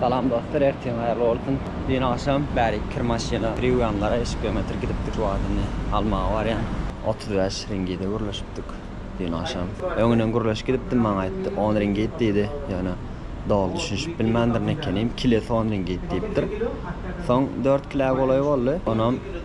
Salam dostlar ertiň haýyrly bolsun. Düýn agşam bäri kir maşyna kir ýuwýanlara eşik biometrik gidipdik wagtyny almaga barýan otuz bäş ringide gürleşipdik düýn agşam öňünden gürleşip gidipdim maňa aýtdy on ringit diýdi ýöne doly düşünişip bilmändir nekenim kile son ringit diýipdir soň dört kile golaý boldy onam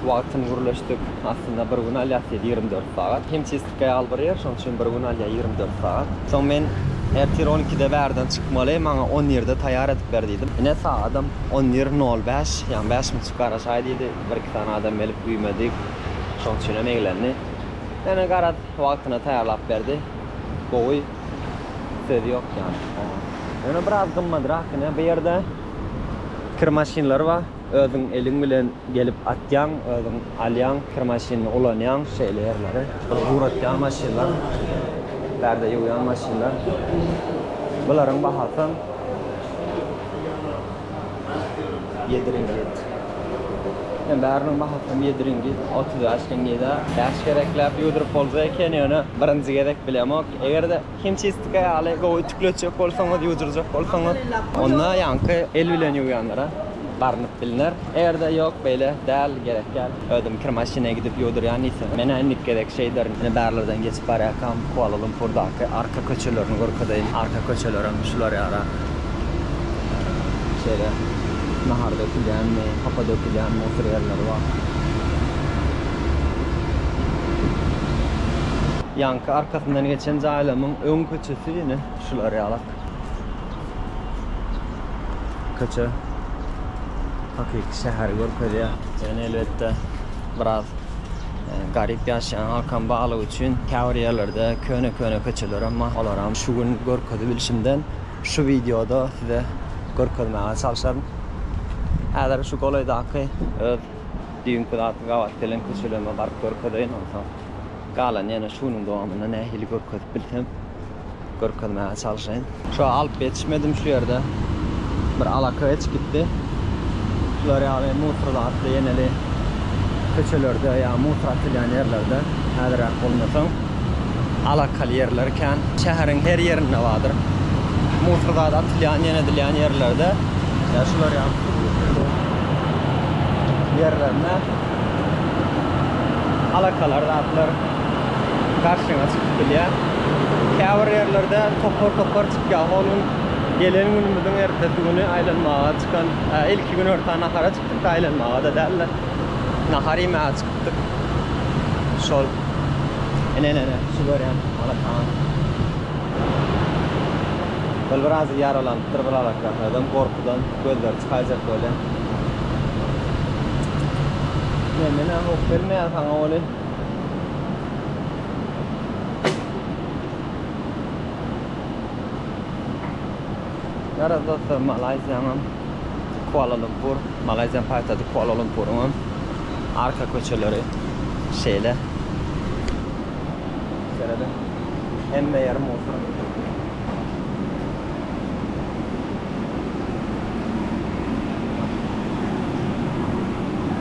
Wagtyny gürleşdik. Aslynda bir gün alýas diýdi ýigrimi dört sagat. Himçistka ýaly bir ýer, şonuň üçin bir gün alýar ýigrimi dört sagat. Soň men ertir on ikide bärden çykmaly, maňa on birde taýýar edip ber diýdim. Ine, sagadam on bir nol bäş, ýagny bäş minçik garaşaý diýdi. Bir iki sany adam gelip güýmedi. Şonuň üçin hem eglendi. Ýöne garaz, wagtyna taýýarlap berdi. Gowy. Söz ýok ýagny oňa. Ýöne biraz gymmadrak ine. Bu ýerde kir maşynlary bar. Özüň eliň bilen gelip atýaň, özüň alýaň, kir maşynyny ulanýaň, şeýle ýerleri. Bul guratýan maşynlar, pärde ýuwýan maşynlar. Bularyň bahasam ýedi ringit. Ýöne bäriniň bahasam ýedi ringit, otuz bäş ringide. Bäş gezekläp ýuwduryp bolsa eken, ýöne birinji gezek bilemok. Eger-de. Himçistika ýaly gowy ütükli etjek bolsaňyz, ýuwdurjak bolsaňyz, onda ýaňky el bilen ýuwýanlara barnyp bilner. Eger-de ýok, beýle däl, gerek däl, özüm kir maşyna gidip ýuwdurýan diýseňiz, men-ä indiki gezek şeýderin. Ine, bärlerden geçip barýarkam, Kuala-Lumpurdaky arka köçelerini görkezeýin. Arka köçelerem şular ýaly. Şeýle nahar dökülýänmi, hapa dökülýänmi otur ýerleri bar. Ýaňky arkasyndan geçen jaýlamyň öň köçesi ine şular ýalak. Köçe hakyky şäheri görkezýär. Ýöne elbetde Biraz garyp ýaşaýan halkam barlygy üçin käbir ýerlerde köne-köne köçelerem bar. Olaram şu gün görkezibilişimden şu wideoda size görkezmäge çalşaryn. Häzir şu golaýdaky öz düýnki zady gabat gelen köçelerime baryp görkezeýin, onsoň galany ýene şu günüň dowamynda nähili görkezip bilsem. görkezmäge çalşaýyn. Şo alyp ýetişmedim şu ýerde bir alaka geçip gitdi. Şular ýaly mutor zatly ýeneli köçelerde ýa mutor atylýan ýerlerde häzirräk bolmasaň alakaly ýerler kän. Şäheriň her ýerinde bardyr. Mutor zat atylýan ýene edilýän ýerlerde ýa şular ýaly ýerlerinde alakalar zatlar. garşyňa çykyp bilýär. Käbir ýerlerde topar-topar çykýar. Hol gün gelen günümiziň ertesi güni aýlanmaga çykan, hä, ilki gün örta nahara çykdyk-da, aýlanmaga-da däl-de, nahar iýmäge çykypdyk. Şol. Ine-ine-ine, şu görýän alakaňam. Ol biraz ýaralanypdyr bir alakasynadan, gorkudan gözleri çykaýjak welin. Ine-ine-ine, hop, gelmeýär saňa welin. Garaz dostlar Malaýziýanyň Kuala Lumpur, Malaýziýanyň paýtagty Kuala Lumpuryň hem arka köçeleri şeýle. Serediň, hemme ýeri museum.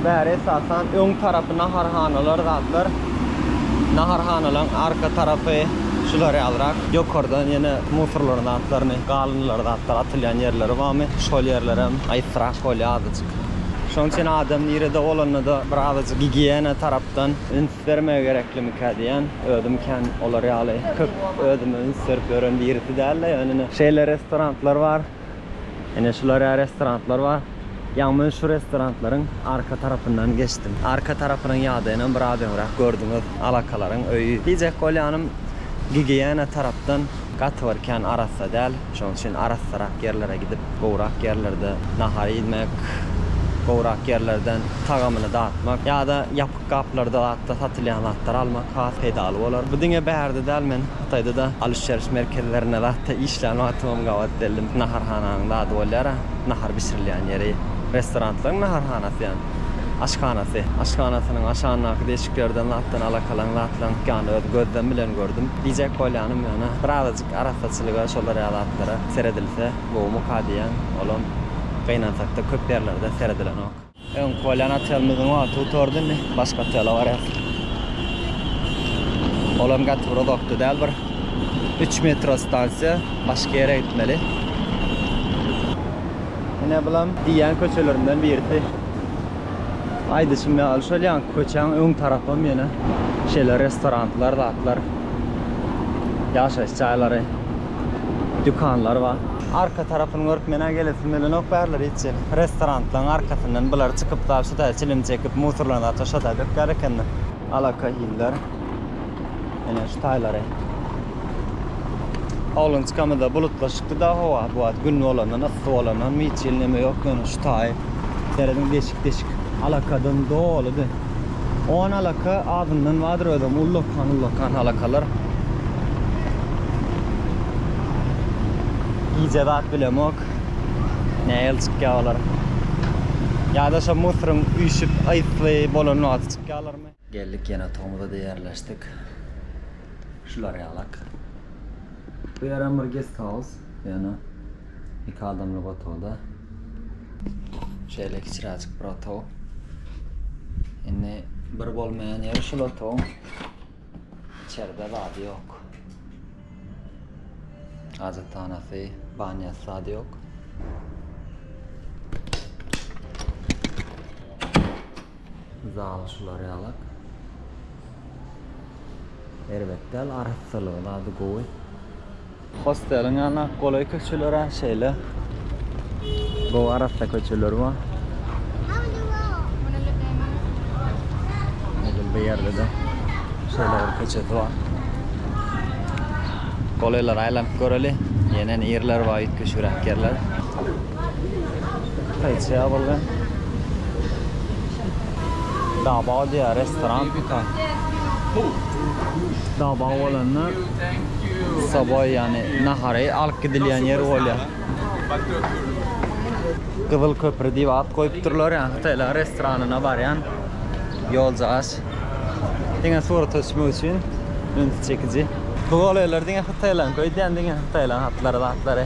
Bäri esasan öň tarapy naharhanalar zatlar. Naharhanalaryň arka tarapy şular ýalyrak. Ýokardan ýene musorlaryň zatlaryny, galyndylar zatlar atylýan ýerleri barmy, şol ýerler hem aýypsyrak bolýar azajyk. Şonuň üçin adam nirede bolanda-da bir azajyk gigiýena tarapdan üns üns bermegi gereklimikä diýýän. Özüm kän olar ýaly köp özüme üns berip ýören birisi däldi. Ýöne ine şeýle restoranlar bar. Ine şular ýaly restoranlar bar. Ýa men şu restoranlaryň arka tarapyndan geçdim. Arka tarapynyň ýagdaýynam biraz öňräk gördüňiz. Alakalaryň öýi. Diýjek bolýanym, gigiýena tarapdan gaty bir kän arassa däl. Şonuň üçin arassarak ýerlere gidip, gowrak ýerlerde nahar iýmek, gowrak ýerlerden tagamyny datmak ýa-da ýapyk Gaplarda zatda satylýan zatlary almak has peýdaly bolar. Bu diňe bärde däl, men Hytaýda-da alyş-çalyş merkezlerinde zatda işlän wagtymam gabat geldim. Naharhananyň zady bolýar-a, nahar bişirilýän ýeri. Restoranlaryň naharhanasy ýany, aşhanasy. Aşhanasynyň aşagyndaky deşiklerden zatdan alakalaň zatlaryň çykýanyny öz gözlem bilen gördüm. Diýjek bolýanym ýöne, bir azajyk arassaçylyga şolar ýaly zatlara seredilse gowumyka diýýän. Olam, gynansakda, köp ýerlerde seredilenok. Öňki bolýan otelimiziň wagty gutardy indi başga otele barýas. Olam gaty bir uzakda däl bir 3 metro stansiýa başga ýere gitmeli. Ine bulam diýýän köçelerimden birisi. Aýdyşym ýaly şol ýaňky köçäň öň tarapam ýene şeýle restoranlar zatlar ýaşaýyş jaýlary. dükanlar bar. Arka tarapyny görüp menä gelesim gelenok bärler içi restoranlaň arkasyndan bular çykyp dal şu taýa çilim çekip musurlaryny ata şo taýa dökýär ekenler. Alakahiller ene şu taýlary. Oglançykamyzda bulutlaşykdyda howa bu wagt gün bolandan yssy bolandan mi çil neme ýok ýöne şu taýy serediň deşik deşik alakadan doludy. Oňa alaka azyndan bardyr özem ullakan ullakan alakalar. Gije zat bilemok. Nähili çykýar olar. Ýa-da şo musuryň üýşüp ysy bolan wagty çykýarlarmy? Geldik ýene otagymyza ýerleşdik. Şular ýalak. Bu ýerem bir gesthaus ýöne. Iki adamlyk otagda. Şeýle kiçiräjik bir otag. Indi bir bolmaýan ýeri şul otagyň içeride zady ýok. Hajathanasy, banýasy zady ýok. Misal şular ýalak. Erbet däl arassalygy zady gowy. Hosteliň ýanyna golaý köçeler-ä şeýle. Gowy arassa köçeler bar. Edil bu ýerde-de şeýle bir köçesi bar. Golaýlara aýlanyp göreli. Ýene ýerler bar üýtgeşigräk ýerler. Taýçy ýabylgy. Dabaw diýýär restoran. Dabaw bolanda soboý ýagny nahary alyp gidilýän ýer bolýar. Gyzyl köpri diýip at goýupdyrlar ýa hytaýlaryň restoranyna barýan ýoljagaç. Diňe surata düşmek üçin ünsi çekiji. Bu golaýlar diňe hytaýlaňky öýdýän diňe hytaýlaň atlary zatlary.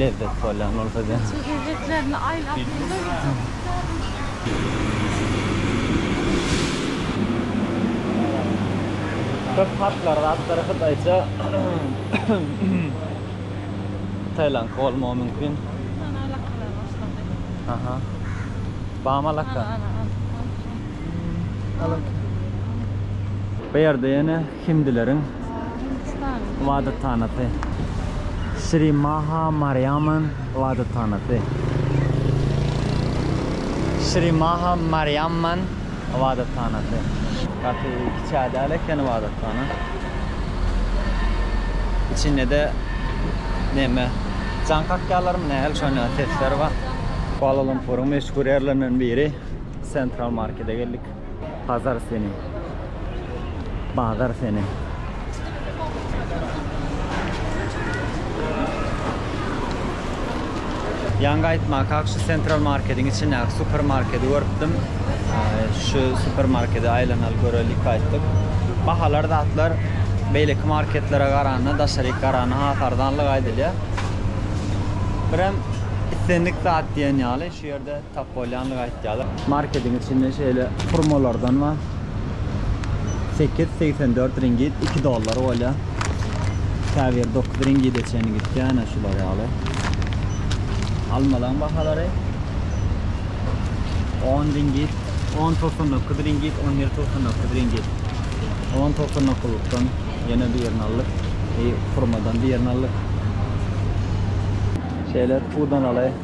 lezzet bolýan bolsa diýen. Çekirdeklerini aýlap ýörler bu çöplükleriň. Köp hatlar zatlary hytaýça hytaýlaňky bolmagy mümkin. Ana alakalar başlady. Aha. Bam alaka. Ana ana ana. Alaka. Bu ýerde ýene Hindileriň ybadathanasy. Şri Maha Mariamman ybadathanasy. Şri Maha Mariamman ybadathanasy. Gaty kiçä däl eken ybadathana. Içinde-de neme, jan kakýalarmy nähili şonda sesler bar. Kuala-Lumpuryň meşhur ýerlerinden biri Central Markede geldik. Bazar seni. Bazar seni. Ýaňky aýtmakak şu Central Marketiň içindäki supermarketi görüpdim. Şu supermarkete aýlanaly görelik aýtdyk. Bahalar zatlar beýleki marketlere garanda, daşaryk garanda has arzanlygy aýdylýar. Birem islendik zat diýen ýaly şu ýerde Tap bolýandygy aýtýarlar. Marketiň içinde şeýle hurmalardan bar. Sekiz segsen dört ringit, iki dollar bolýar. Käbiri dokuz ringide çenli gitýär, ine şular ýaly. Almalaryň bahalary on ringit, on togsan dokuz ringit, on bir togsan dokuz ringit. On togsan dokuzlykdan ýene birini aldyk. Hurmadan birini aldyk. Şeýle pudanaly.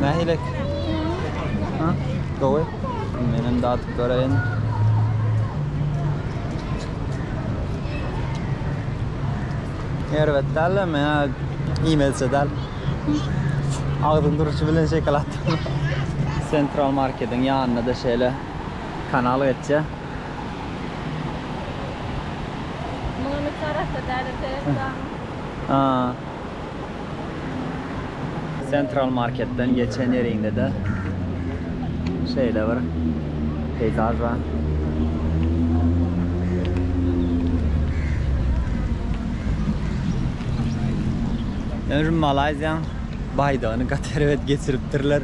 Nähilek? Ha? Gowy. Menem datyp göreýin. Erbet däl, men iýmelse däl. Agzyň duruşy bilen şekil atdym. Central Marketiň ýanynda-da şeýle kanal geçýär. Munuň üsti arassa däl ete Hudaň. Central marketden geçen ýeriňde-de şeýle bir peýzaž bar. Ýöne şu Malaýziýaň baýdagyny gaty erbet geçiripdirler.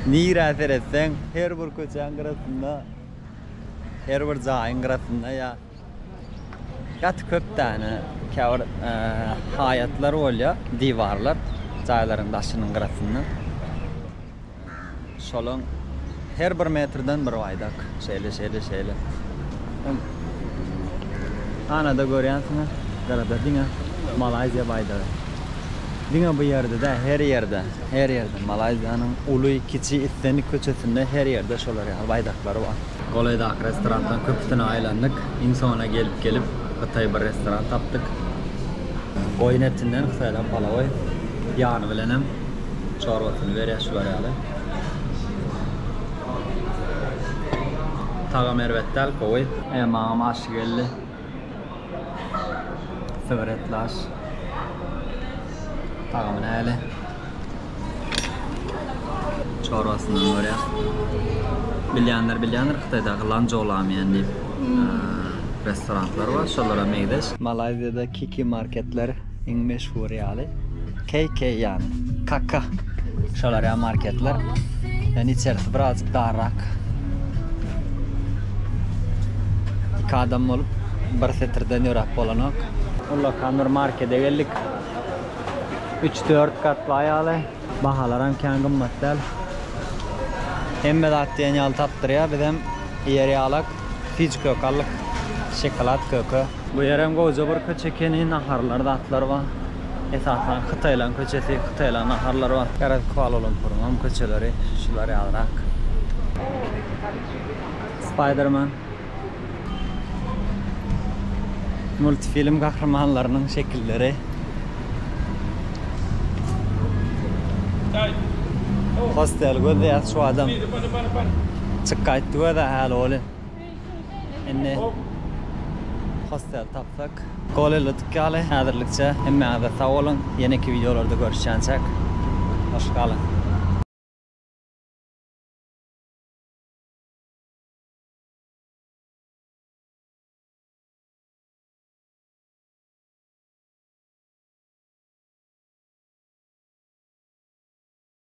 Nirä seretseň, her bir köçäň gyrasynda. Her bir jaýyň gyrasynda ýa gaty köp däne käbir haýatlar bolýar, diwarlar jaýlaryň daşynyň gyrasynda. Şolaň her bir metrden bir baýdak. Şeýle, şeýle, şeýle. Ana-da görýänsiňiz, gyrada diňe Malaýziýa baýdagy. Diňe bu ýerde däl, her ýerde. Her ýerde Malaýziýanyň uly, kiçi, islendik köçesinde her ýerde şolar ýaly baýdaklar bar. Golaýdaky restoranlaryň köpüsine aýlandyk. Iň soňuna gelip gelip hytaý bir restoran tapdyk. Goýun etinden hytaýdan palawy, ýany bilenem çorbasyny berýär şular ýaly. Tagamy erbet däl, gowy. Maňam aşy geldi. Sweretlaş. Tagamy näle? Çorbasyny görýär. Bilýänler bilýändir Hytaýdaky Lanzhou Lamian diýip restoranlar bar, şolara meňzeş. Malaýziýada Kiki marketler. Iň meşhur ýaly KK ýany kaka şolar ýa marketler. Ýani içerisi birazjyk darrak. Iki adam bolup bir setirden ýöräp bolanok. Ullakan bir markede geldik. Üç dört gatly aýaly. Bahalaram kän gymmat däl. Hemme zat diýen ýaly tapdyrýar. Bizem ýer ýalak, fic kök aldyk. Şokolad köki. Bu ýerem gowja bir köçe ekeni, naharlar zatlar bar. Esasan hytaýlaryň köçesi, hytaýlaryň naharlary bar. Garaz Kuala-Lumpuryň hem köçeleri şular ýalyrak. Spiderman multfilm gahrymanlarynyň şekilleri. Hostel göz degýär şu adam. Çyk gaýtdy göz-ä häli oly. Indi hostel tapdyk. Golelotk ýaly häzirlikçe. Hemmäňize sag boluň. Ýeneki wideolarda görüşýänçäk. Hoş galyň.